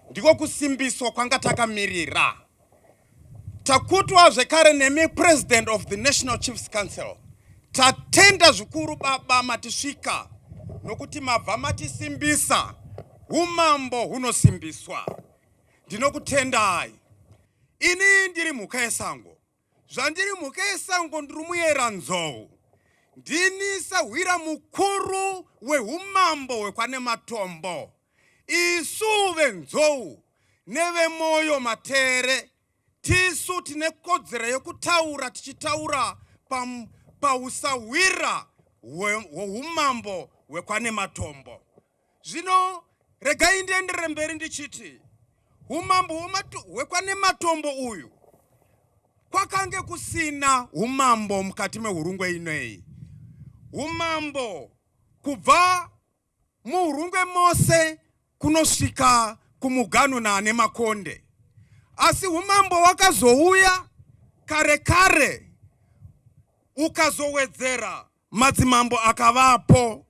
Ndiko kusimbiswa kwanga takamirira. Takutwa zvekare nemi President of the National Chiefs Council. Tatenda zvikuru baba matisvika nokuti mabva matisimbisa umambo hunosimbiswa ndinokutendai ini ndiri mhuka yesango Zvandiri mhuka yesango ndiri muyera nzou. Ndini sahwira mukuru wehumambo hwekwanematombo. Isu venzou nevemoyo matere tisu tine kodzero yekutaura tichitaura pausahwira hwehumambo hwekwanematombo. Zvino regai ndienderere mberi ndichiti umambo hwekwanematombo uyu kwakange kusina umambo mukati mehurungwe inei umambo kubva muhurungwe mose kunosvika kumugano naane makonde asi umambo wakazouya kare kare ukazowedzera Madzimambo akavapo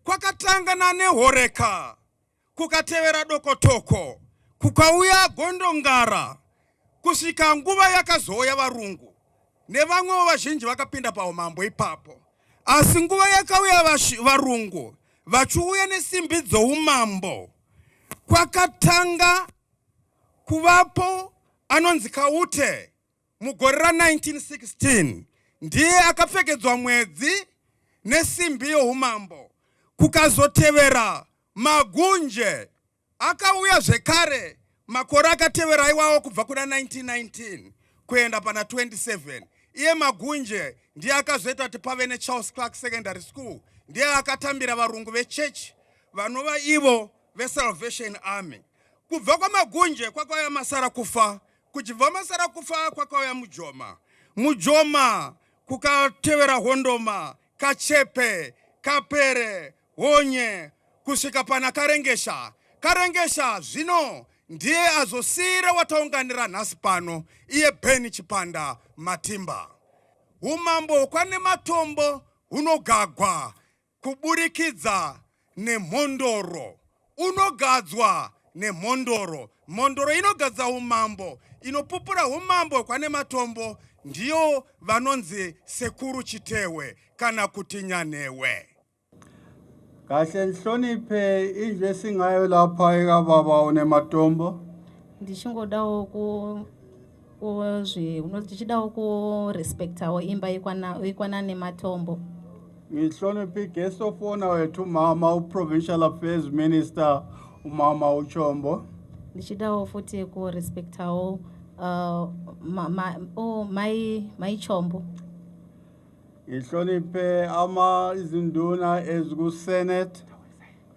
kwakatanga naNehoreka, kukatevera Dokotoko, kukauya Gondongara kusvika nguva yakazouya varungu nevamwewo vazhinji vakapinda paumambo ipapo. Asi nguva yakauya varungu vachiuya nesimbi dzoumambo, kwakatanga kuvapo anonzi Kaute mugore ra 1916 ndiye akapfekedzwa mwedzi nesimbi youmambo kukazotevera magunje akauya zvekare makore akatevera iwawo kubva kuna 1919 kuenda pana 27 iye magunje ndiye akazoita kuti pave necharles clark secondary school ndiye akatambira varungu vechechi vanova ivo vesalvation army kubva kwamagunje kwakauya masara kufa Kuchibva masara kufa kwakauya mujoma mujoma kukatevera hondoma kachepe kapere honye kusvika pana karengesha karengesha zvino ndiye azosiira wataunganira nhasi pano iye beni chipanda matimba umambo hwokwane matombo hunogagwa kuburikidza nemhondoro. Unogadzwa nemhondoro. Mhondoro inogadza umambo, inopupura umambo hwekwane matombo, ndiyo vanonzi sekuru chitehwe kana kuti nyanhewe. Kahle nhloniphe indlu esingayo lapha ekababa unematombo. Ndichingodawo ku kozve unoti tichidawo kurespectawo imba yekwana nematombo ngihloniphi guest of honor wethu mama uprovincial affairs minister umama uchombo ndichidawo futi kurespectawo uh, ma, ma, oh, mai, mai chombo ngihloniphe ama izinduna ezikusenate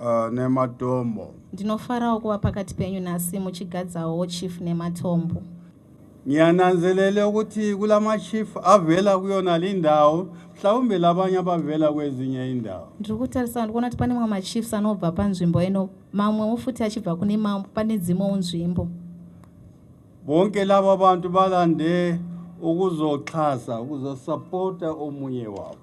Uh, nematombo ndinofarawo kuva pakati penyu nhasi muchigadzawo chief nematombo ngiyananzelele ukuthi kula machief avela kuyona lindawo mhlawumbe labanye abavela kwezinye indawo ndiri kutarisa ndikuona kuti pane mamwe machiefs anobva panzvimbo ino mamwewo futi achibva kune mambo pane dzimwewo nzvimbo bonke laba bantu balande ukuzoxhasa ukuzosapota omunye wabo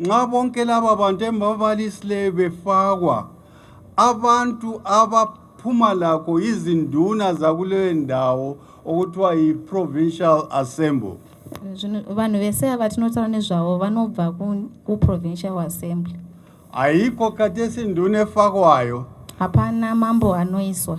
nxa bonke laba bantu embabalisileyo befakwa abantu abaphuma lakho izinduna zakuleyo ndawo okuthiwa yi-provincial assembly vanhu vese ava tinotaura nezvavo vanobva kuprovincial assembly haiko katesi ndune fakwayo hapana mambo anoiswa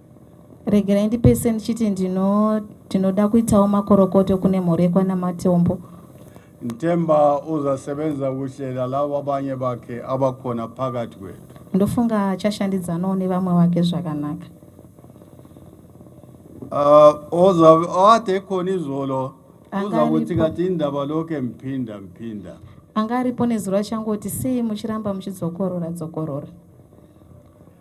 regerai ndipese ndichiti ndino tinoda kuitawo makorokoto kune mhuri yekwanamatombo ntemba uzasebenza kuhle lalavo abanye bakhe abakhona phakathi kwethu ndofunga achashandidzanawo nevamwe vake zvakanaka uh, ozabe ade khona izolo uza kuthi kathi indaba lokhu emphinda mphinda anga aripo nezuro achangoti sei muchiramba muchidzokorora dzokorora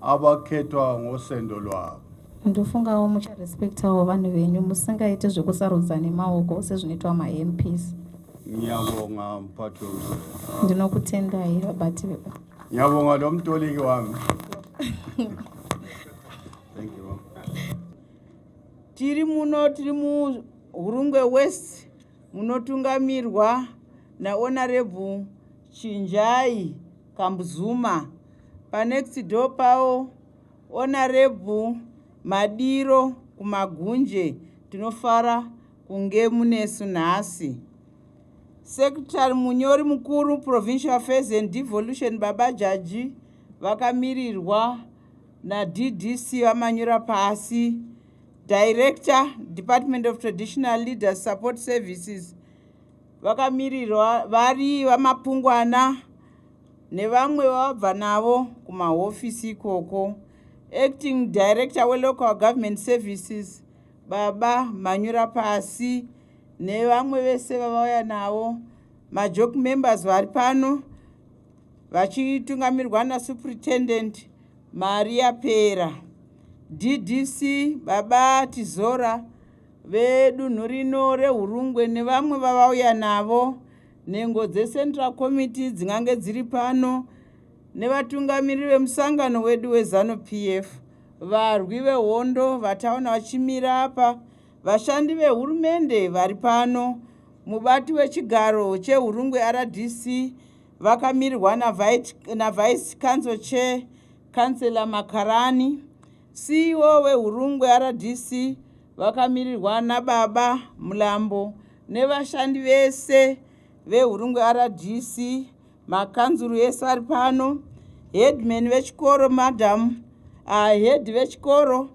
abakhethwa ngosendo lwabo ndofungawo mucharespectawo vanhu venyu musingaiti zvekusarudza nemaoko sezvinoitwa mamps ngiyabonga mphathi womsebenzi ndinokutendai vabati veba ngiyabonga lo mtoliki wami thank you tiri muno tiri muhurungwe west munotungamirwa naonarebhu chinjai kambuzuma panext door pawo onarebhu madiro kumagunje tinofara kunge munesu nhasi secretary munyori mukuru provincial affairs and devolution baba jaji vakamirirwa naddc vamanyura pasi director department of traditional leaders support services vakamirirwa vari vamapungwana nevamwe vavabva navo kumahofisi ikoko. Acting Director weLocal Government Services baba Manyura Pasi nevamwe vese vavauya navo majoke members vari pano vachitungamirwa naSuperintendent Maria Pera. DDC baba Tizora vedunhu rino reHurungwe nevamwe vavauya navo Nhengo dzeCentral Committee dzingange dziri pano nevatungamiriri vemusangano wedu weZanu PF, varwi vehondo vataona vachimira apa, vashandi vehurumende vari pano, mubati wechigaro cheHurungwe RDC vakamirirwa naVice Council Chair Councillor Makarani, CEO weHurungwe RDC vakamirirwa naBaba Mlambo nevashandi vese veHurungwe RDC, makanzuru ese ari pano, headman vechikoro madam, uh, head vechikoro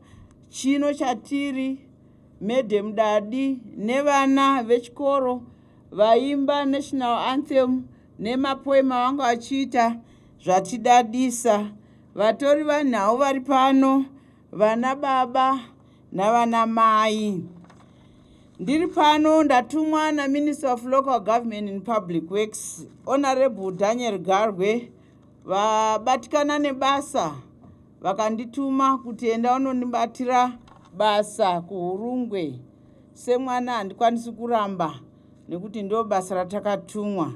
chino chatiri madam Dadi nevana vechikoro vaimba national anthem nemapoema vanga vachiita zvatidadisa vatori vanhau vari pano Vana baba navana mai. Ndiri pano ndatumwa na Minister of Local Government and Public Works, Honorable Daniel Garwe, vabatikana nebasa vakandituma kuti enda unonibatira basa kuHurungwe. Semwana handikwanisi kuramba nekuti ndo basa ratakatumwa.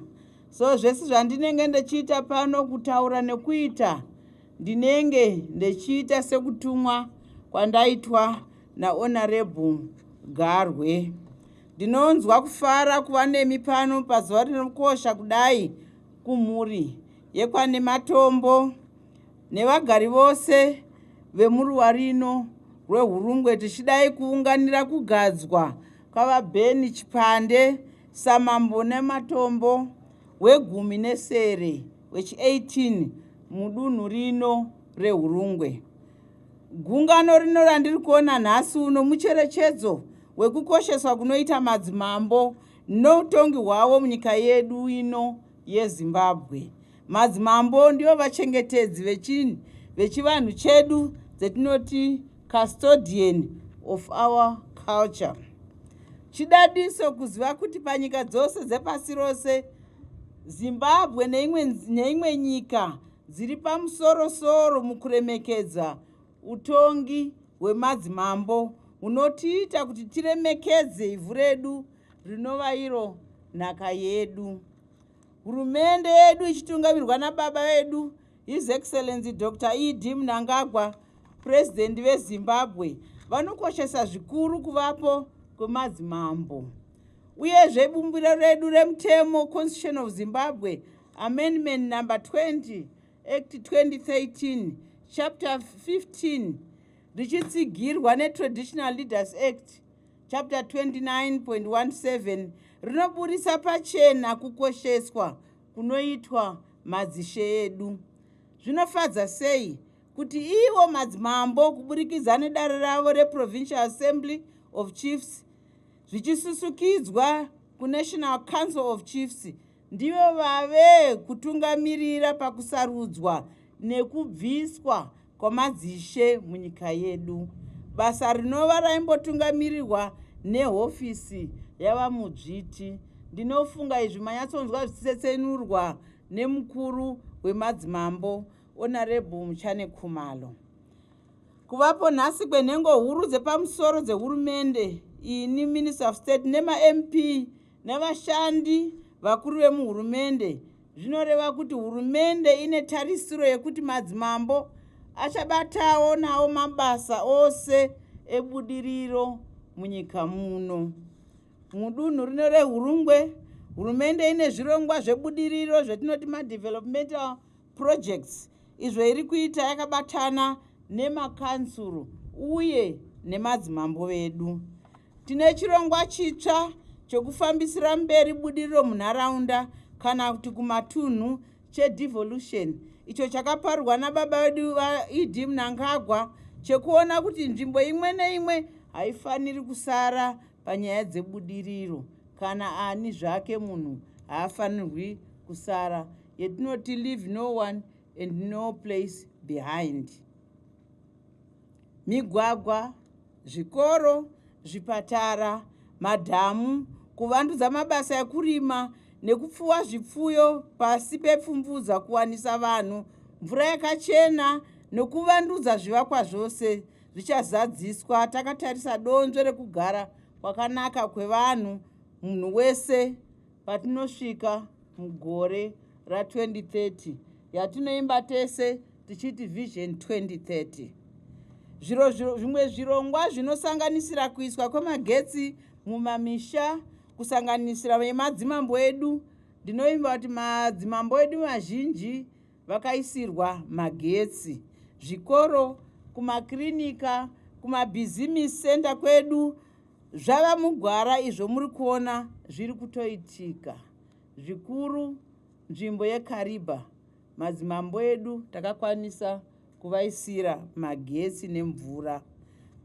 So zvese zvandinenge ndichiita pano kutaura nekuita Ndinenge ndechiita sekutumwa kwandaitwa naHonorable Garwe. Ndinonzwa kufara kuva nemi pano pazuva rinokosha kudai kumhuri yekwane Matombo nevagari vose vemuruwa rino rweHurungwe tichidai kuunganira kugadzwa kwaVaBeni Chipande samambo nematombo wegumi nesere. wechi18 mudunhu rino reHurungwe. Gungano rino randiri kuona nhasi uno mucherechedzo wekukosheswa kunoita madzimambo noutongi hwavo munyika yedu ino yeZimbabwe. Madzimambo ndivo vachengetedzi vechinhu vechivanhu chedu dzetinoti custodian of our culture. Chidadiso kuziva kuti panyika dzose dzepasi rose Zimbabwe neimwe, neimwe nyika dziri pamusorosoro mukuremekedza utongi hwemadzimambo hunotiita kuti tiremekedze ivhu redu rinova iro nhaka yedu. Hurumende yedu ichitungamirwa nababa vedu His Excellency Dr. ED Mnangagwa, President veZimbabwe, vanokoshesa zvikuru kuvapo kwemadzimambo. Uyezve bumbiro redu remutemo Constitution of Zimbabwe Amendment number 20 Act 2013 chapter 15 richitsigirwa neTraditional Leaders Act chapter 29.17 rinoburitsa pachena kukosheswa kunoitwa madzishe edu. Zvinofadza sei kuti ivo madzimambo kuburikidza nedare ravo reProvincial Assembly of Chiefs zvichisusukidzwa kuNational Council of Chiefs ndivo vave kutungamirira pakusarudzwa nekubviswa kwamadzishe munyika yedu basa rinova raimbotungamirirwa nehofisi yavamudzviti ndinofunga izvi manyatsonzwa zvichitsetsenurwa nemukuru wemadzimambo onarebhu muchane khumalo Kuvapo nhasi kwenhengo huru dzepamusoro dzehurumende ini minister of state nemamp nevashandi vakuru vemuhurumende zvinoreva kuti hurumende ine tarisiro yekuti madzimambo achabatawo nawo mabasa ose ebudiriro munyika muno mudunhu rino rehurungwe hurumende ine zvirongwa zvebudiriro zvetinoti madevelopmental projects izvo iri kuita yakabatana nemakansuru uye nemadzimambo vedu tine chirongwa chitsva chokufambisira mberi budiriro munharaunda kana kuti kumatunhu chedevolution icho chakaparwa nababa vedu vaed mnangagwa chekuona kuti nzvimbo imwe neimwe haifaniri kusara panyaya dzebudiriro kana ani zvake munhu haafanirwi kusara yetinoti leave no one and no place behind migwagwa zvikoro zvipatara madhamu kuvandudza mabasa ekurima nekupfuwa zvipfuyo pasi pepfumvudza kuwanisa vanhu mvura yakachena nokuvandudza zvivakwa zvose zvichazadziswa takatarisa donzvo rekugara kwakanaka kwevanhu munhu wese patinosvika mugore ra2030 yatinoimba tese tichiti vision 2030 zviro zvimwe zvirongwa zvinosanganisira kuiswa kwemagetsi mumamisha kusanganisira vemadzimambo edu ndinoimba kuti madzimambo edu mazhinji vakaisirwa magetsi zvikoro kumakirinika kumabhizimisi senda kwedu zvava mugwara izvo muri kuona zviri kutoitika zvikuru nzvimbo yekariba madzimambo edu takakwanisa kuvaisira magetsi nemvura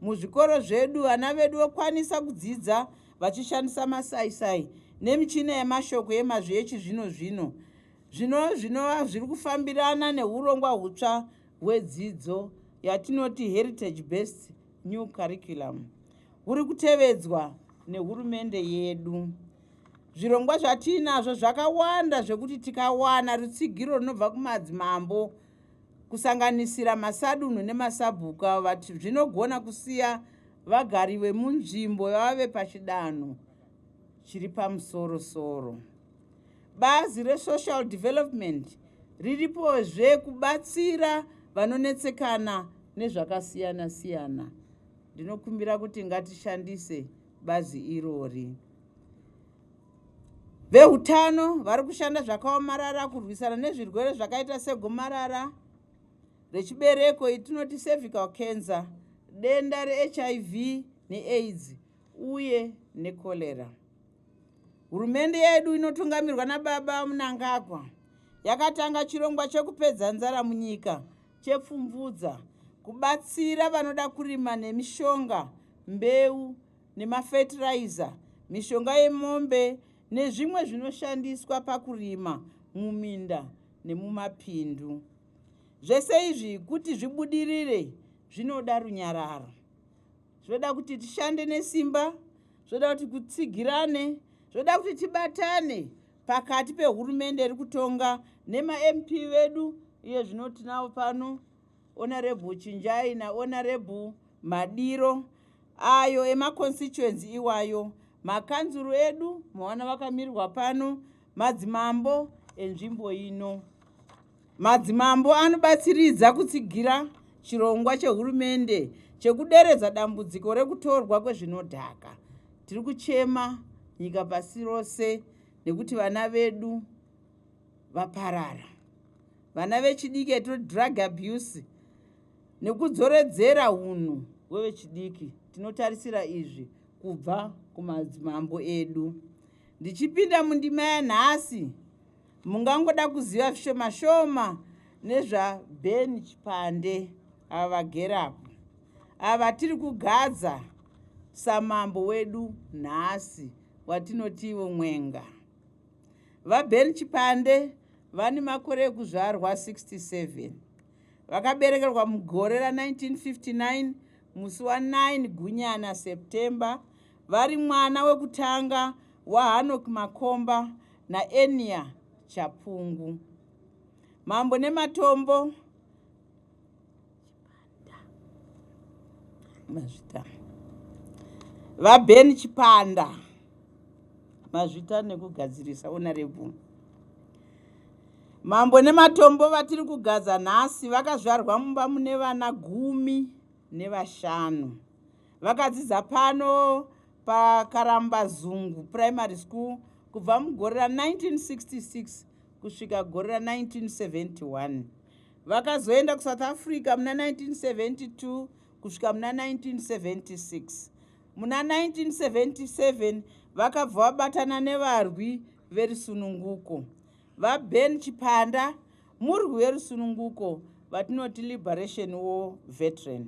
muzvikoro zvedu vana vedu vokwanisa kudzidza vachishandisa masaisai nemichina yemashoko yemazvi echizvino zvino zvino zvinova zviri kufambirana neurongwa hutsva hwedzidzo yatinoti heritage based new curriculum huri kutevedzwa nehurumende yedu zvirongwa zvatiinazvo zvakawanda zvekuti tikawana rutsigiro runobva kumadzimambo kusanganisira masadunhu nemasabhuku avo vati zvinogona kusiya vagari vemunzvimbo vave pachidanho chiri pamusoro soro Bazi reSocial Development riripozve kubatsira vanonetsekana nezvakasiyana siyana. Ndinokumbira kuti ngatishandise bazi irori. Veutano vari kushanda zvakaomarara kurwisana nezvirwere zvakaita segomarara rechibereko itinoti cervical cancer, denda reHIV neAIDS uye necholera. Hurumende yedu inotungamirwa naBaba Mnangagwa yakatanga chirongwa chekupedza nzara munyika chePfumvudza kubatsira vanoda kurima nemishonga, mbeu nemafetiraiza, mishonga yemombe nezvimwe zvinoshandiswa pakurima muminda nemumapindu. Zvese izvi kuti zvibudirire zvinoda runyararo. zvoda kuti tishande nesimba zvoda kuti kutsigirane zvoda kuti tibatane pakati pehurumende iri kutonga nemamp vedu iye zvino tinavo pano honorebhu chinjai nahonorebhu madiro ayo emaconstituency iwayo makanzuru edu mawana vakamirirwa pano madzimambo enzvimbo ino Madzimambo anobatsiridza kutsigira chirongwa chehurumende chekuderedza dambudziko rekutorwa kwezvinodhaka. Tiri kuchema nyika pasi rose nekuti vana vedu vaparara. Vana vechidiki atiri drug abuse nekudzoredzera hunhu hwevechidiki. Tinotarisira izvi kubva kumadzimambo edu. Ndichipinda mundima yanhasi, Mungangoda kuziva zvishoma shoma nezvaBen Chipande ava vagere apo. Ava tiri kugadza samambo wedu nhasi watinotivo Mwenga. VaBen Chipande vane makore ekuzvarwa 67. Vakaberekerwa mugore ra 1959 musi wa 9 Gunyana September vari mwana wekutanga waHanok Makomba naEnia Chapungu. Mambo nematombo mazvita vaben chipanda mazvita nekugadzirisa onarebvu mambo nematombo vatiri kugadza nhasi vakazvarwa mumba mune vana gumi nevashanu Vakadzidza pano paKarambazungu Primary School kubva mugore ra 1966 kusvika gore ra 1971. Vakazoenda kuSouth Africa muna 1972 kusvika muna 1976. Muna 1977 vakabva vabatana nevarwi verusununguko. VaBen Chipanda murwi werusununguko vatinoti Liberation War Veteran.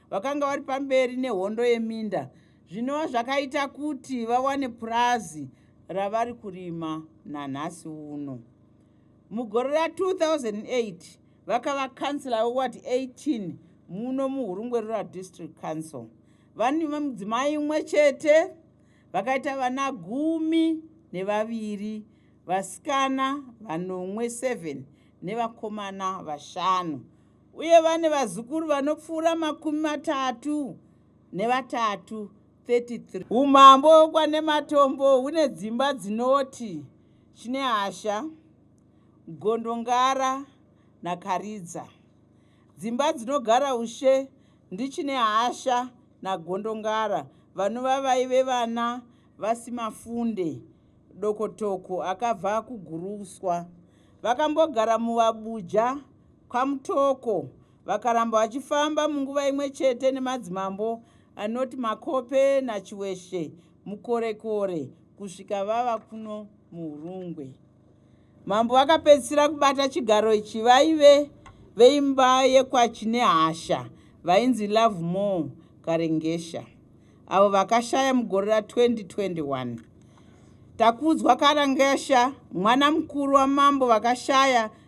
vakanga vari pamberi nehondo yeminda zvinova zvakaita kuti vawane purazi ravari kurima nanhasi uno mugore ra 2008 vakava kansila weward 18 muno muhurungwe rural district council vane mudzimai umwe chete vakaita vana gumi nevaviri vasikana vanomwe 7 nevakomana vashanu uye vane vazukuru vanopfuura makumi matatu nevatatu 33 umambo kwanematombo hune dzimba dzinoti chinehasha gondongara nakaridza dzimba dzinogara ushe ndichinehasha nagondongara vanova vaive vana vasimafunde dokotoko akabva kuguruswa vakambogara muvabuja kwaMutoko vakaramba vachifamba munguva imwe chete nemadzimambo anoti Makope naChiweshe muKorekore kusvika vava kuno muHurungwe. Mambo vakapedzisira kubata chigaro ichi vaive veimba yekwaChinehasha vainzi Love More Karengesha avo vakashaya mugore ra 2021. Takudzwa Karengesha mwana mukuru wamambo vakashaya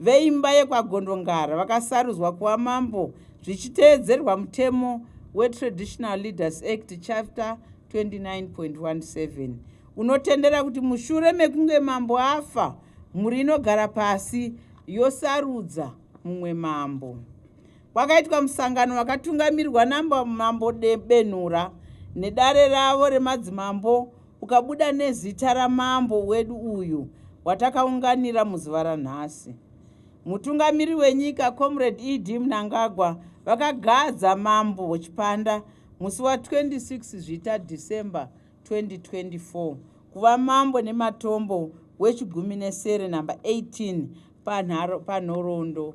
veimba yekwaGondongara vakasarudzwa kuva mambo zvichiteedzerwa mutemo weTraditional Leaders Act Chapter 29.17 unotendera kuti mushure mekunge mambo afa, mhuri inogara pasi yosarudza mumwe mambo. Kwakaitwa musangano wakatungamirwa naMambo Benhura nedare ravo remadzimambo ukabuda nezita ramambo wedu uyu watakaunganira muzuva ranhasi. Mutungamiri wenyika Comrade ED Mnangagwa vakagadza mambo Chipanda musi wa 26 Zvita December 2024 kuva mambo nematombo wechigumi nesere number 18 panhorondo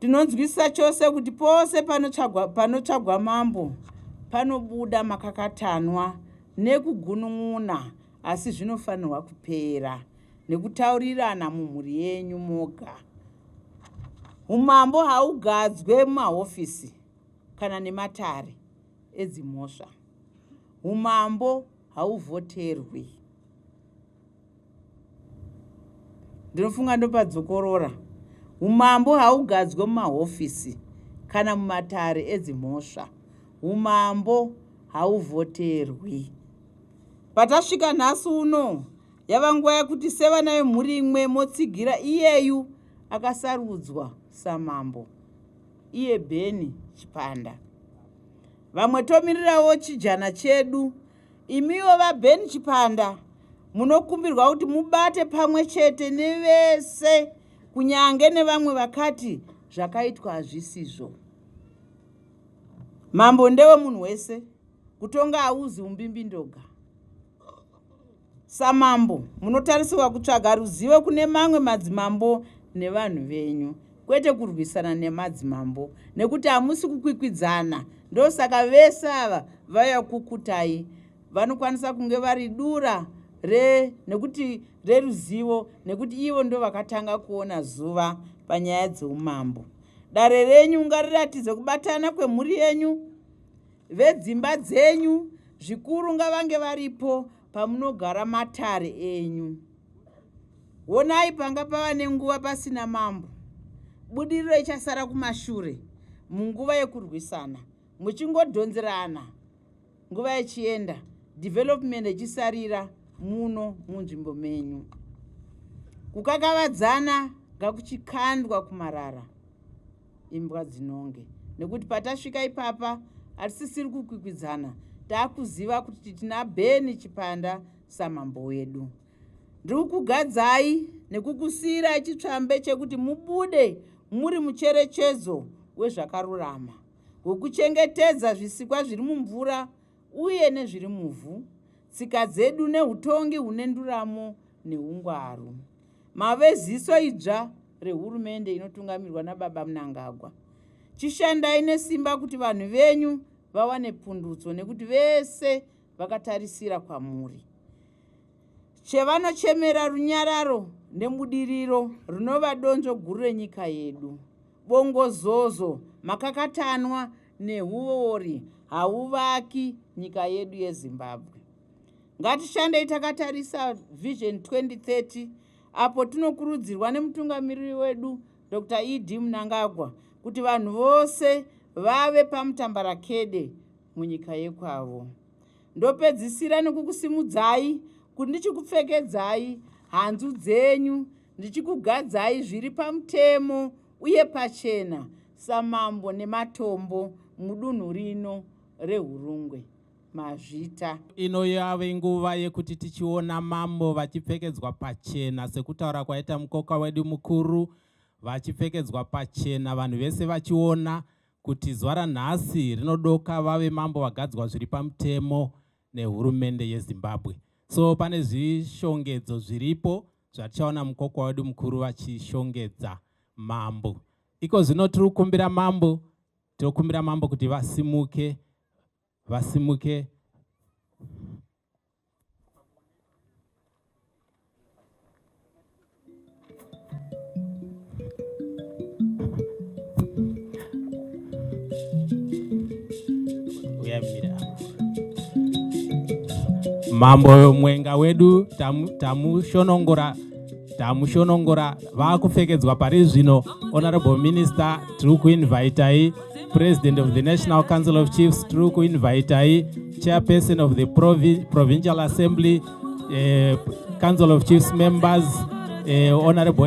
Tinonzwisisa chose kuti pose panotsvagwa panotsvagwa mambo panobuda makakatanwa nekugunun'una asi zvinofanirwa kupera nekutaurirana mumhuri yenyu moga. Umambo haugadzwe mumahofisi kana nematare edzimhosva. Umambo hauvhoterwi. ndinofunga ndopadzokorora umambo haugadzwe mumahofisi kana mumatare edzimhosva umambo hauvhoterwi patasvika nhasi uno yava nguva yekuti sevana vemhuri imwe motsigira iyeyu akasarudzwa samambo iye bheni chipanda vamwe tomirirawo chijana chedu Imiwo VaBen Chipanda munokumbirwa kuti mubate pamwe chete nevese kunyange nevamwe vakati zvakaitwa hazvisizvo. Mambo ndewe munhu wese, kutonga hauzi umbimbi ndoga. Samambo munotarisirwa kutsvaga ruzivo kune mamwe madzimambo nevanhu venyu. kwete kurwisana nemadzimambo nekuti hamusi kukwikwidzana ndosaka vese ava vaya kukutai vanokwanisa kunge vari dura re nekuti reruzivo nekuti ivo ndo vakatanga kuona zuva panyaya dzeumambo dare renyu ngariratidze kubatana kwemhuri yenyu vedzimba dzenyu zvikuru ngavange varipo pamunogara matare enyu honai panga pava nenguva pasina mambo budiriro ichasara kumashure munguva yekurwisana muchingodhonzerana nguva yechienda development ichisarira muno munzvimbo menyu kukakavadzana ngakuchikandwa kumarara imbwa dzinonge nekuti patasvika ipapa hatisisiri kukwikwidzana takuziva kuti tina beni chipanda samambo wedu ndiri kugadzai nekukusiirai chitsvambe chekuti mubude muri mucherechedzo wezvakarurama wekuchengetedza zvisikwa zviri mumvura uye nezviri muvhu, tsika dzedu nehutongi hune nduramo neungwaru. Mave ziso idzva rehurumende inotungamirwa naBaba Mnangagwa. Chishandai nesimba kuti vanhu venyu vawane pundutso nekuti vese vakatarisira kwamuri. Chevanochemera runyararo nebudiriro rinova donzvo guru renyika yedu. Bongozozo, makakatanwa nehuori hauvaki nyika yedu yezimbabwe ngatishandei takatarisa vision 2030 apo tinokurudzirwa nemutungamiriri wedu dr ed munangagwa kuti vanhu vose vave pamutambarakede munyika yekwavo ndopedzisira nekukusimudzai kuti ndichikupfekedzai hanzu dzenyu ndichikugadzai zviri pamutemo uye pachena samambo nematombo mudunhu rino reHurungwe, Mazvita. Ino yave nguva yekuti tichiona mambo vachipfekedzwa pachena sekutaura kwaita mukoka wedu mukuru, vachipfekedzwa pachena vanhu vese vachiona kuti zuva ranhasi rinodoka vave mambo vagadzwa zviri pamutemo nehurumende yeZimbabwe. So pane zvishongedzo zviripo zvatichaona mukokwa wedu mukuru vachishongedza mambo. Iko zvino tiri kukumbira mambo, tiri kukumbira mambo kuti vasimuke, vasimuke. Mambo mwenga wedu tamushonongora tamu tamushonongora vakupfekedzwa pari zvino honorable minister tiri kuinvitai president of the national council of chiefs tiri kuinvitai chairperson of the Provi provincial assembly uh, council of chiefs members uh, honorable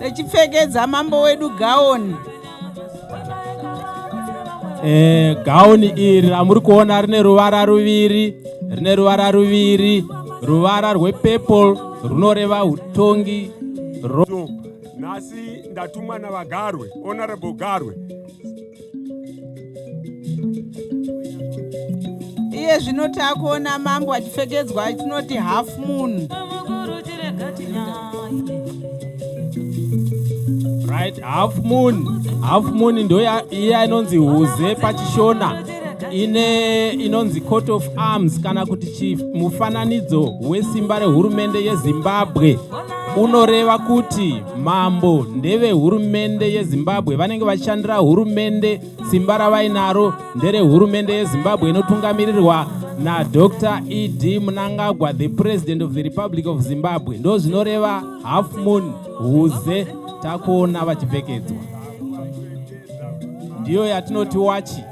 Techipfekedza mambo wedu gaoni. Eh, gaoni iri ramuri kuona rine ruvara ruviri, rine ruvara ruviri, ruvara rwepurple runoreva utongi. Ro... Nhasi ndatumwa naVagarwe, Honorable Garwe. iye zvino takuona mambo achipfekedzwa tinoti half moon right half moon half moon ndo iya inonzi huze pachishona ine inonzi court of arms kana kuti mufananidzo wesimba rehurumende yezimbabwe unoreva kuti mambo ndevehurumende yezimbabwe vanenge vachishandira hurumende simba ravainaro nderehurumende yezimbabwe inotungamirirwa nadr ed munangagwa the president of the republic of zimbabwe ndo zvinoreva half moon huze takuona vachipfekedzwa ndiyo yatinoti wachi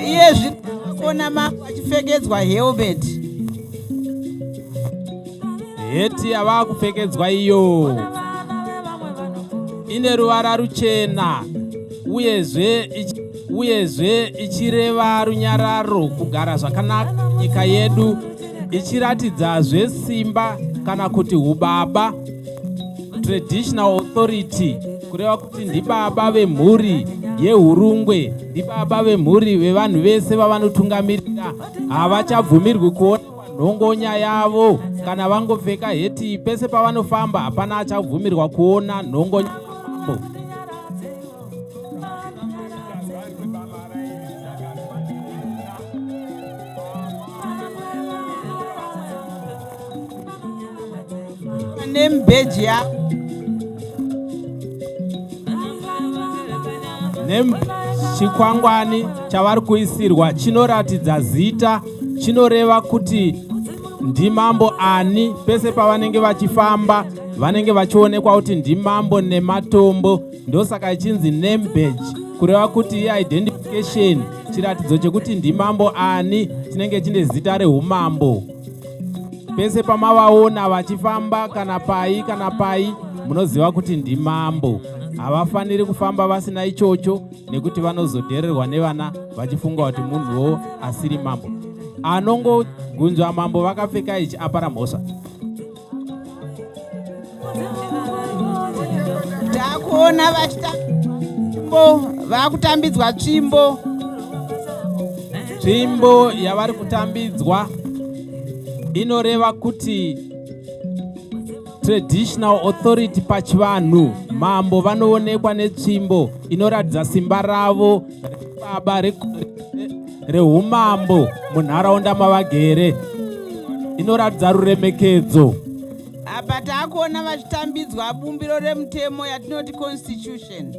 iye zvikuona mambo achipfekedzwa helmet heti yavaa kupfekedzwa iyo ine ruvara ruchena uyezve uyezve ichireva runyararo kugara zvakanaka nyika yedu ichiratidzazve simba kana kuti ubaba traditional authority kureva kuti ndibaba vemhuri yehurungwe ndibaba vemhuri vevanhu vese vavanotungamirira havachabvumirwi kuona nhongonya yavo kana vangopfeka heti pese pavanofamba hapana achabvumirwa kuona nhongonya yavo name badge ya name chikwangwani chavari kuisirwa chinoratidza zita chinoreva kuti ndimambo ani pese pavanenge vachifamba vanenge vachionekwa kuti ndimambo nematombo ndosaka ichinzi name badge kureva kuti iidentification chiratidzo chekuti ndimambo ani chinenge chine zita reumambo pese pamavaona vachifamba kana pai kana pai munoziva kuti ndimambo havafaniri kufamba vasina ichocho nekuti vanozodhererwa nevana vachifunga kuti munhuwo asiri mambo anongogunzva mambo vakapfeka ichi apara mhosva Takuona vachitambo vakutambidzwa tsvimbo. Tsvimbo yavari kutambidzwa inoreva kuti traditional authority pachivanhu mambo vanoonekwa netsvimbo inoratidza simba ravo baba rehumambo munharaunda mavagere inoratidza ruremekedzo apa taakuona vachitambidzwa bumbiro remutemo yatinoti constitution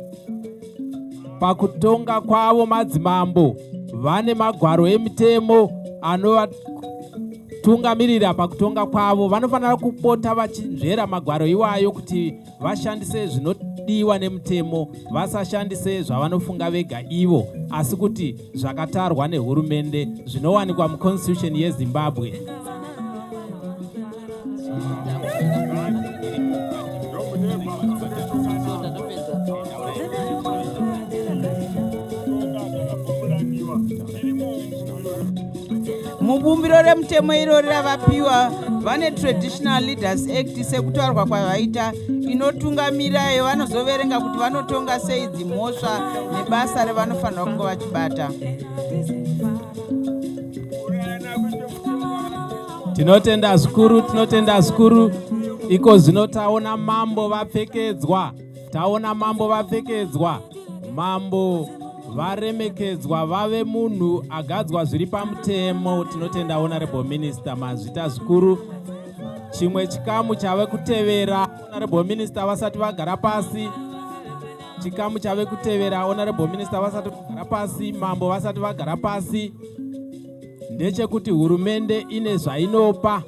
pakutonga kwavo madzimambo vane magwaro emitemo anovatungamirira pakutonga kwavo vanofanira kupota vachinzvera magwaro iwayo kuti vashandise zvinodiwa nemutemo vasashandise zvavanofunga vega ivo asi kuti zvakatarwa nehurumende zvinowanikwa muconstitution yezimbabwe mubumbiro remutemo irori ravapiwa vane traditional leaders act sekutaurwa kwavaita inotungamira iyo vanozoverenga kuti vanotonga sei dzimhosva nebasa revanofanira kunge vachibata tinotenda zvikuru tinotenda zvikuru iko zvino taona mambo vapfekedzwa Taona mambo vapfekedzwa, mambo varemekedzwa vave munhu agadzwa zviri pamutemo. Tinotenda honorable minister mazvita zvikuru. Chimwe chikamu chave kutevera honorable minister vasati vagara pasi chikamu chave kutevera honorable minister vasati vagara pasi mambo vasati vagara pasi ndechekuti hurumende ine zvainopa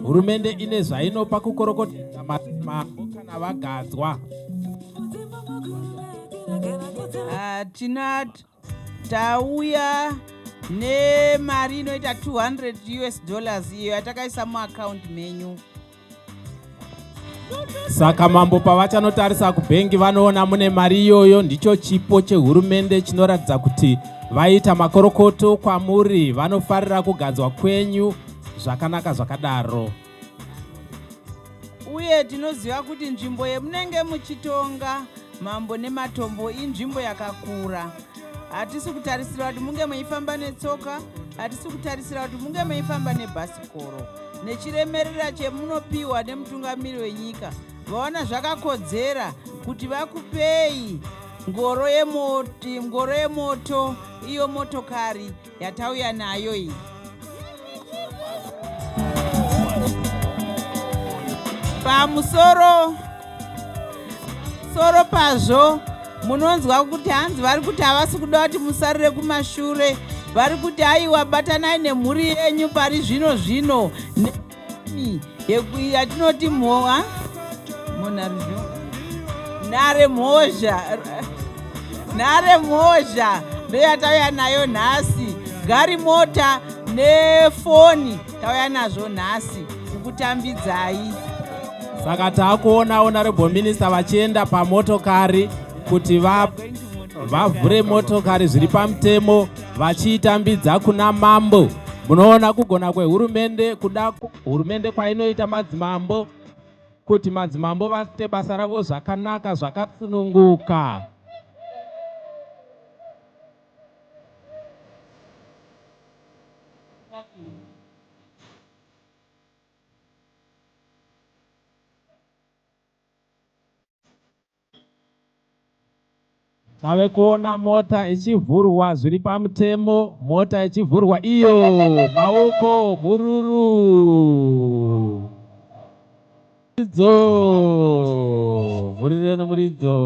hurumende ine zvainopa kukorokotedza mabho kana vagadzwa ah, tina tauya nemari inoita 200 us dollars iyo yatakaisa muakaundi menyu Saka mambo pavachanotarisa kubhengi vanoona mune mari iyoyo, ndicho chipo chehurumende chinoratidza kuti vaita makorokoto kwamuri, vanofarira kugadzwa kwenyu zvakanaka zvakadaro. Uye tinoziva kuti nzvimbo yemunenge muchitonga mambo nematombo inzvimbo yakakura. Hatisi kutarisira kuti munge meifamba netsoka, hatisi kutarisira kuti munge meifamba nebhasikoro. nechiremerera chemunopiwa nemutungamiri wenyika vaona zvakakodzera kuti vakupei ngoro yemoti ngoro yemoto iyo motokari yatauya nayo iyi pamusoro soro pazvo munonzwa kuti hanzi vari kuti havasi kuda kuti musarire kumashure vari kuti aiwa batanai nemhuri yenyu pari zvino zvino nemi yatinoti mhowa monharizvo nhare mhozha nhare mhozha ndoyatauya nayo nhasi gari mota nefoni tauya nazvo nhasi kukutambidzai saka taakuonawo narebho minista vachienda pamotokari kuti vavhure motokari zviri pamutemo vachiitambidza kuna mambo munoona kugona kwehurumende kuda hurumende kwainoita madzimambo kuti madzimambo vaite basa ravo zvakanaka zvakasununguka Tave kuona mota ichivhurwa zviri pamutemo, mota ichivhurwa iyo, maoko mhururu muridzo, mhuriro nemuridzo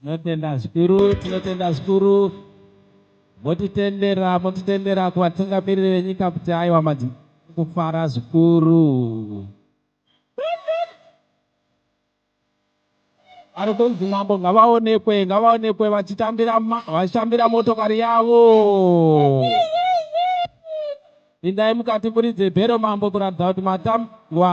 Tinotenda zvikuru, tinotenda zvikuru. Motitendera, motitendera kuvatungamiriri venyika kuti aiwa madzimai vari kufara zvikuru. Vari kunzi mambo ngavaonekwe, ngavaonekwe vachitambira, vachitambira motokari yavo. Pindai mukati muridze bhero mambo kuratidza kuti matambwa.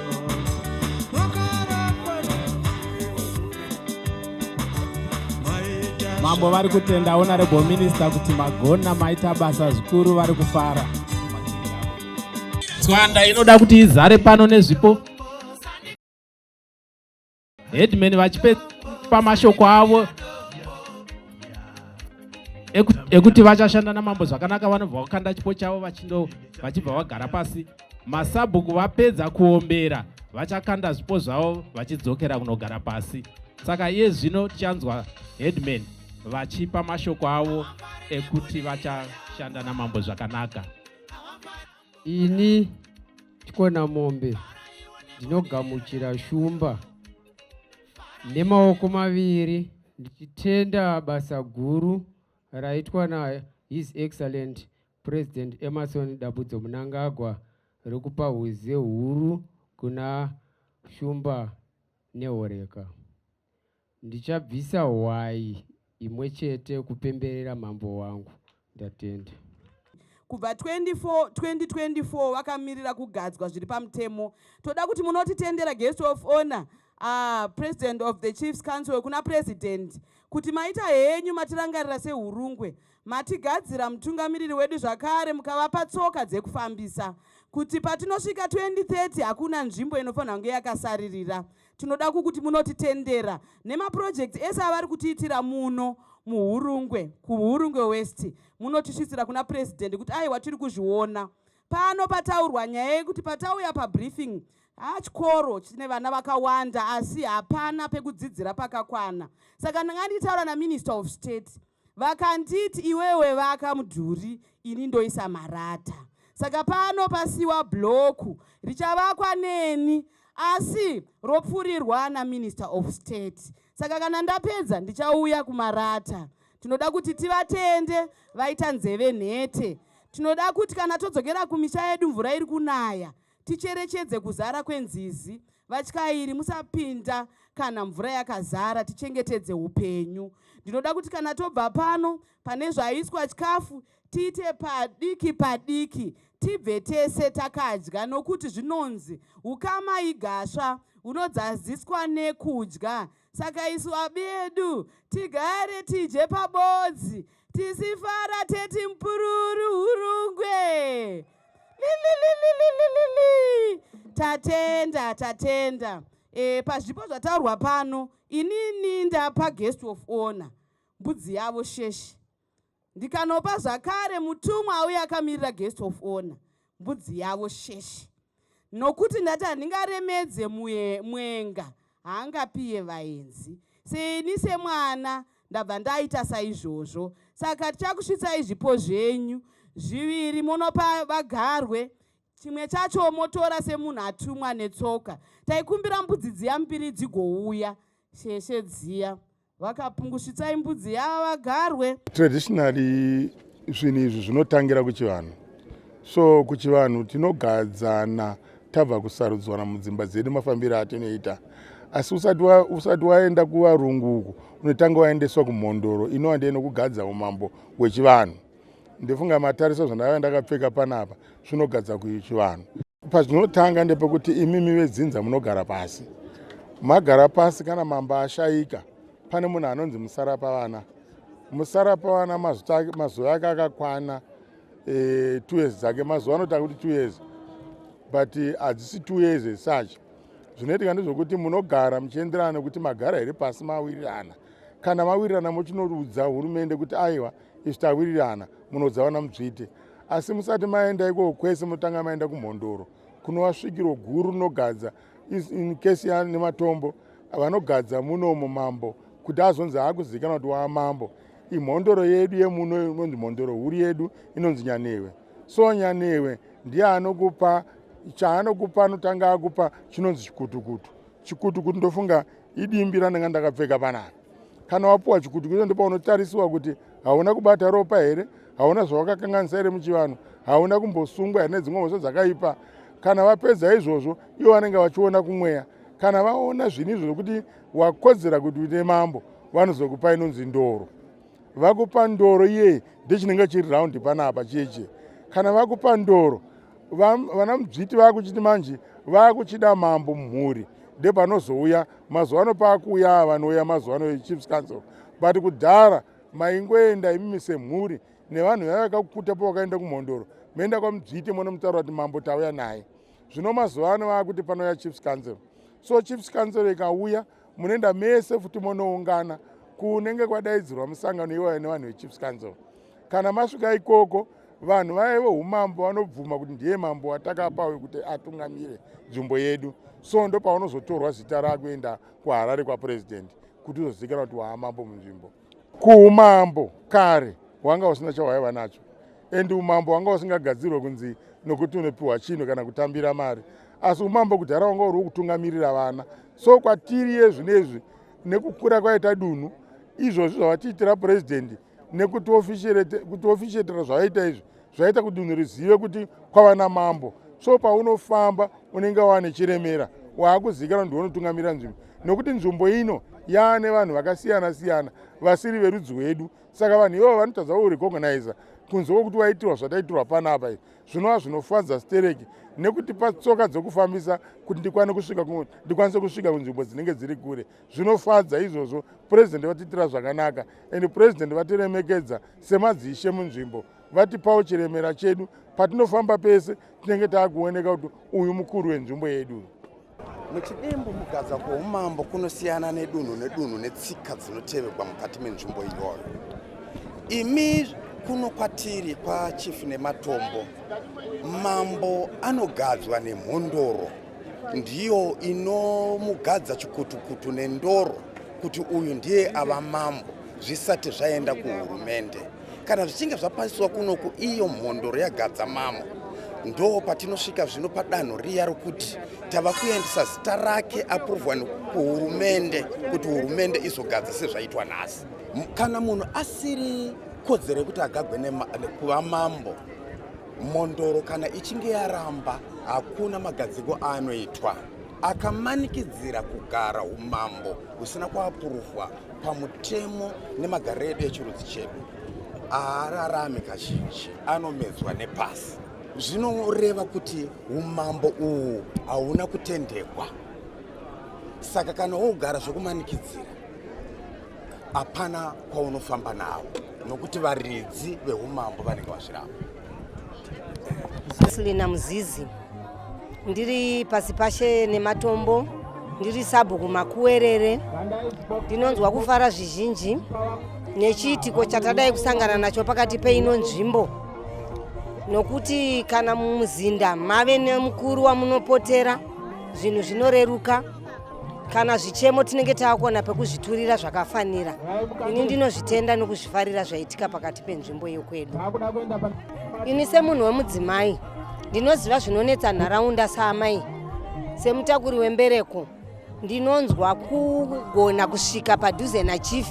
mambo vari kutenda honorable minister kuti magona maita basa zvikuru vari kufara tswanda inoda kuti izare pano nezvipo headman vachipa mashoko avo ekuti vachashanda namambo zvakanaka vanobva vakanda chipo chavo vachindo vachibva vagara pasi masabhuku vapedza kuombera vachakanda zvipo zvavo vachidzokera kunogara pasi saka iye zvino tichanzwa headman vachipa mashoko avo ekuti vachashanda namambo zvakanaka ini tikona mombe ndinogamuchira shumba nemaoko maviri ndichitenda basa guru raitwa na his excellent president emerson dabudzo munangagwa rekupa huze huru kuna shumba nehoreka Ndichabvisa hwai imwe chete kupemberera mambo wangu. Ndatenda. Kubva 24 2024 vakamirira kugadzwa zviri pamutemo. Toda kuti munotitendera guest of honor uh, president of the chiefs council kuna president kuti maita henyu matirangarira sehurungwe matigadzira mutungamiriri wedu zvakare mukavapa tsoka dzekufambisa kuti patinosvika 2030 hakuna nzvimbo inofanira kunge yakasaririra Tinoda kukuti munotitendera nemapurojekiti ese avari kutiitira muno muhurungwe kuhurungwe west munotisvitsira kuna purezidhendi kuti aiwa tiri kuzviona pano pataurwa nyaya yekuti patauya pabriefing hachikoro chine vana vakawanda asi hapana pekudzidzira pakakwana saka ndanga ndichitaura naminister of state vakanditi iwewe vaka mudhuri ini ndoisa marata saka pano pasiwa bloku richavakwa neni asi ropfurirwa naminister of state saka kana ndapedza ndichauya kumarata tinoda kuti tivatende vaita nzeve nhete tinoda kuti kana todzokera kumisha yedu mvura iri kunaya ticherechedze kuzara kwenzizi vatyairi musapinda kana mvura yakazara tichengetedze upenyu ndinoda kuti kana tobva pano pane zvaiswa chikafu tiite padiki padiki tibve tese takadya nokuti zvinonzi ukama igasva unodzaziswa nekudya Saka isu abedu tigare tije pabodzi tisifara teti mpururu hurungwe lilililililili tatenda tatenda e, pazvipo zvataurwa pano inini ndapa guest of honor mbudzi yavo sheshe ndikanopa zvakare mutumwa auye akamirira guest of honor mbudzi yavo sheshe nokuti ndati handingaremedze mwenga haangapiye vaenzi seini semwana ndabva ndaita saizvozvo saka tichakusvitsai zvipo zvenyu zviviri monopa vagarwe chimwe chacho motora semunhu atumwa netsoka taikumbira mbudzi dziya mbiri dzigouya sheshe dziya vakapungusvitsai mbudzi yava vagarwe traditionally zvinhu izvi zvinotangira kuchivanhu so kuchivanhu tinogadzana tabva kusarudzwana mudzimba dzedu mafambiro atinoita asi usati waenda kuvarungu uku unotanga waendeswa kumhondoro inova ndiye nokugadza umambo hwechivanhu ndefunga matariso zvandava ndakapfeka panapa zvinogadza kuchivanhu pazvinotanga ndepekuti imimi vedzinza munogara pasi magara pasi kana mamba ashayika pane munhu anonzi musarapa vana musarapa vana mazuva ake akakwana e, two years dzake mazuva anotanga kuti two years but eh, hadzisi two years esuch zvinoitika ndezvokuti munogara muchienderana nekuti magara here pasi mawirirana kana mawirirana mochinoudza hurumende kuti aiwa izvi tawirirana munodza vana mutsvite asi musati maenda ikoko kwese motanga maenda kumhondoro kunova svikiro guru rinogadza in case yanematombo vanogadza munomo mambo kuti azonzi akuzivikanwa kuti waa mambo imhondoro yedu yemuno inonzi mhondoro huru yedu inonzi nyanewe so nyanewe ndiye anokupa chaanokupa anotanga akupa chinonzi chikutukutu chikutukutu ndofunga idimbi randanga ndakapfeka panapa kana wapuwa chikudukiso ndopaunotarisiwa kuti hauna kubata ropa here hauna zvawakakanganisa here muchivanhu hauna kumbosungwa here nedzimwe mhosva dzakaipa kana vapedza izvozvo ivo vanenge vachiona kumweya kana vaona zvinhu izvo zvokuti wakodzera kuti uite mambo vanozokupa inonzi ndoro vakupa ndoro iye ndechinenge chiri raundi panapa cheche kana vakupa ndoro vana mudzviti vakuchiti manje vakuchida mambo mumhuri ndepanozouya mazuva ano pakuuya a vanouya mazuva ano echiefs council but kudhara maingoenda imimi semhuri nevanhu vaiva vakakukuta pavakaenda kumhondoro maenda kwamudzviti monomutaura kuti mambo tauya naye zvino mazuva ano vakuti panouya chiefs council so chiefs council ikauya munoenda mese futi monoungana kunenge kwadaidzirwa musangano iwaya nevanhu vechiefs council kana masvika ikoko vanhu vaye veumambo vanobvuma kuti ndiye mambo watakapa wekuti atungamire nzvimbo yedu so ndo paunozotorwa zita rakuenda kuharare kwapurezidendi kuti uzozivikanwa kuti waamambo munzvimbo Kuumambo kare wanga usina chawaiva nacho and umambo wanga usingagadzirwe kunzi nokuti unopiwa chinhu kana kutambira mari asi umambo kudhara wanga uri wokutungamirira vana so kwatiri yezvinezvi nekukura kwaita dunhu izvozvi zvavatiitira purezidendi nekuti ofishetera zvavaita izvi zvaita kuti dunhu rizive kuti kwava namambo so paunofamba unenge wava nechiremera waakuzikana kuti unotungamira nzvimbo nokuti nzvimbo ino yaa nevanhu vakasiyana siyana vasiri verudzi rwedu saka vanhu ivavo vanotadza kurecogniza kunze kwokuti waitirwa zvataitirwa panapa izvi zvinova zvinofadza stereki nekuti patsoka dzokufambisa kuti ndikwane kusvika ndikwanise kusvika kunzvimbo dzinenge dziri kure zvinofadza izvozvo purezidendi vatiitira zvakanaka and purezidendi vatiremekedza semadzishe munzvimbo vatipawo chiremera chedu patinofamba pese tinenge taakuoneka kuti uyu mukuru wenzvimbo yedu muchidimbu mugadza kwoumambo kunosiyana nedunhu nedunhu netsika dzinotevegwa mukati menzvimbo iyoyo imi kuno kwatiri kwachief nematombo mambo anogadzwa nemhondoro ndiyo inomugadza chikutukutu nendoro kuti uyu ndiye ava mambo zvisati zvaenda kuhurumende Kana zvichinge zvapasiswa kunoku iyo mhondoro yagadzamamo ndo patinosvika zvino padanho riya rokuti tava kuendesa zita rake aprovwa kuhurumende kuti hurumende izogadza sezvaitwa nhasi kana munhu asiri kodzero yekuti agagwe nekuva mambo mhondoro kana ichinge yaramba hakuna magadziko aanoitwa akamanikidzira kugara umambo husina kuapuruvwa pamutemo nemagariro edu echirudzi chedu haararami kazhinji anomedzwa nepasi zvinoreva kuti umambo uhu hauna kutendekwa saka kana wogara zvokumanikidzira hapana kwaunofamba nawo nokuti varidzi veumambo vanenge vazviramba Selina Muzizi ndiri pasi pashe nematombo ndiri sabhuku makuwerere ndinonzwa kufara zvizhinji nechiitiko chatadai kusangana nacho pakati peino nzvimbo nokuti kana mumuzinda mave nemukuru wamunopotera zvinhu zvinoreruka kana zvichemo tinenge taakona pekuzviturira zvakafanira ini ndinozvitenda nokuzvifarira zvaitika pakati penzvimbo yokwedu ini semunhu wemudzimai ndinoziva zvinonetsa nharaunda saamai semutakuri wembereko ndinonzwa kugona kusvika padhuze nachief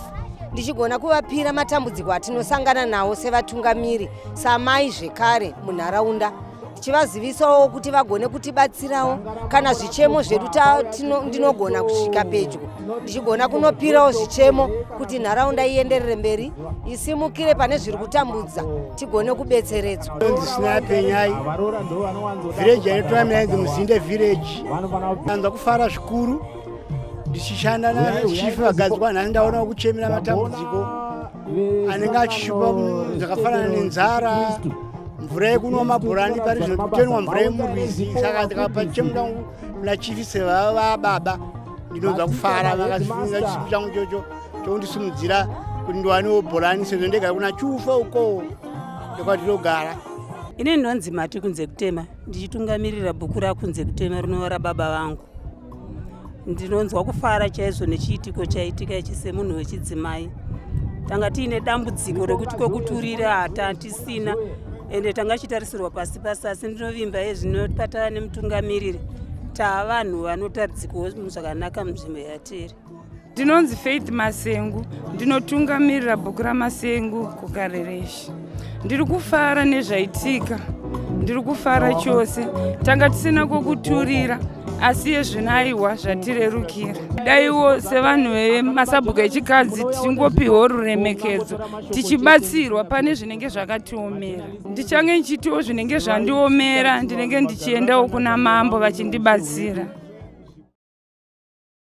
ndichigona kuvapira matambudziko atinosangana nawo sevatungamiri samai zvekare munharaunda tichivazivisawo kuti vagone kutibatsirawo kana zvichemo zvedu ndinogona kusvika pedyo ndichigona kunopirawo zvichemo kuti nharaunda ienderere mberi isimukire pane zviri kutambudza tigone kubetseredzwa ndisinapenyai vhireji yaitoamiyainzi muzinde vhireji anza kufara zvikuru ndichishanda nachifi vagadzwa nhani ndaonawo kuchemera matambudziko anenge achishupa zvakafanana nenzara mvura yekunwa mabhorani pari zvino kutenwa mvura yemurwizi saka ndikapa chimu changu kuna chifi sevava vababa ndinonza kufara vakasifunga chisipi changu chocho chokundisimudzira kuti ndiwanewo bhorani sezvo ndega kuna chufa ukowo ndokwatinogara ine ndonzi mati kunze kutema ndichitungamirira bhuku rakunze kutema rinova rababa vangu ndinonzwa kufara chaizvo nechiitiko chaitika ichi semunhu wechidzimai tanga tiine dambudziko rekuti kwekuturira hata tisina ende tanga chitarisirwa pasi pasi asi ndinovimba yezvino patava nemutungamiriri taa vanhu vanotaridzikawo zvakanaka munzvimbo yatiri ndinonzi faith masengu ndinotungamirira bhuku ramasengu kukarereshi ndiri kufara nezvaitika ndiri kufara chose tanga tisina kwokuturira asi yezvinaiwa zvatirerukira daiwo sevanhu vemasabhuku echikadzi tichingopiwo ruremekedzo tichibatsirwa pane zvinenge zvakatiomera ndichange ndichitiwo zvinenge zvandiomera ndinenge ndichiendawo kuna mambo vachindibatsira